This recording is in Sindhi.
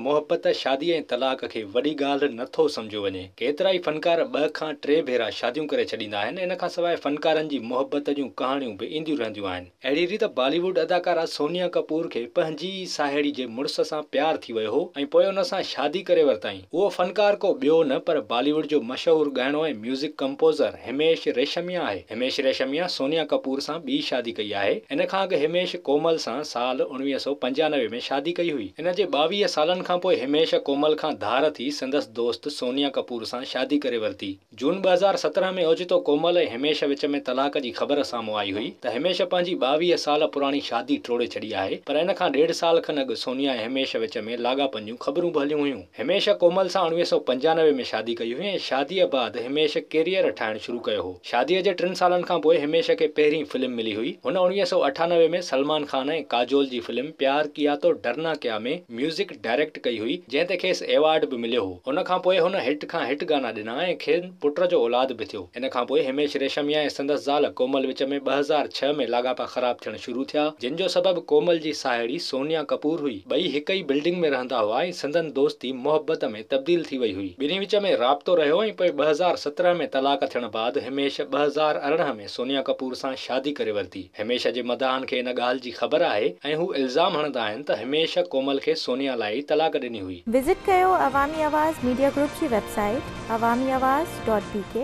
محبت، شادي ۽ طلاق کي وڏي ڳالهه نه ٿو سمجهيو وڃي. ڪيترائي فنڪار ٻه کان ٽي ڀيرا شاديون ڪري ڇڏيندا آهن. ان کان سواء فنڪارن جي محبت جون ڪهاڻيون به اينديون رهنديون آهن. اهڙي ريت بالي ووڊ اداڪارا سونيا ڪپور کي پنهنجي ئي ساهيڙي جي مڙس سان پيار ٿي ويو هو ۽ پوء ان سان شادي ڪري ورتائين. اهو فنڪار ڪو ٻيو نه پر بالي ووڊ جو مشهور ڳائڻو ۽ ميوزڪ ڪمپوزر هميش ريشميا آهي. هميش ريشميا سونيا ڪپور سان ٻي شادي ڪئي آهي. ان کان اڳ هميش ڪومل سان سال اڻويهه سؤ پنجانوي ۾ شادي ڪئي هئي. هن جي ٻاويهه سالن کان پوء هميش ڪومل کان ڌار ٿي سندس دوست سونيا ڪپور سان شادي ڪري ورتي. جون ٻه هزار سترهن ۾ اوچتو ڪومل ۽ هميش وچ ۾ طلاق جي خبر سامهون آئي هئي ته هميش پنهنجي ٻاويهه سال پراڻي شادي ٽوڙي ڇڏي آهي پر ان کان ڏيڍ سال کن اڳ سونيا ۽ هميش وچ ۾ لاڳاپن جون خبرون به هليون هيون. هميش ڪومل سان اڻويهه سؤ پنجانوي ۾ شادي ڪئي هئي ۽ شاديء بعد هميش ڪيريئر ٺاهڻ شروع ڪيو هو. شاديء جي ٽن سالن کان پوء هميش کي پهرين فلم ملي هئي. هن اڻويهه سؤ اٺانوي ۾ سلمان خان ۽ ڪاجول جي فلم پيار ڪيا تو ڊرنا ڪيا ۾ ميوزڪ ڊائريڪٽ ڪئي هئي، جنهن تي کيس ايوارڊ به مليو هو. ان کان پوء هن هٽ کان هٽ گانا ڏنا ۽ کين پٽ جو اولاد به ٿيو. ان کان پوء هيميش ريشميا ۽ سندس زال ڪومل وچ ۾ ٻه هزار ڇهه ۾ لاڳاپا خراب ٿيڻ شروع ٿيا، جن جو سبب ڪومل جي ساهيڙي سونيا ڪپور هئي. ٻئي هڪ ئي بلڊنگ ۾ رهندا هئا ۽ سندن دوستي محبت ۾ تبديل ٿي وئي هئي. ٻنهي وچ ۾ رابطو رهيو ۽ پوء ٻه هزار سترهن ۾ طلاق ٿيڻ بعد هيميش ٻه هزار ارڙهن ۾ سونيا ڪپور سان شادي ڪري ورتي. هميش جي مداحن کي ان ڳالهه جي خبر آهي ۽ هو الزام هڻندا آهن ته هميش ڪومل کي سونيا لاء ئي طلاق ڏني هئي. وزٽ ڪيو عوامي آواز ميڊيا گروپ جي website Awami Awaz dot بي ڪي.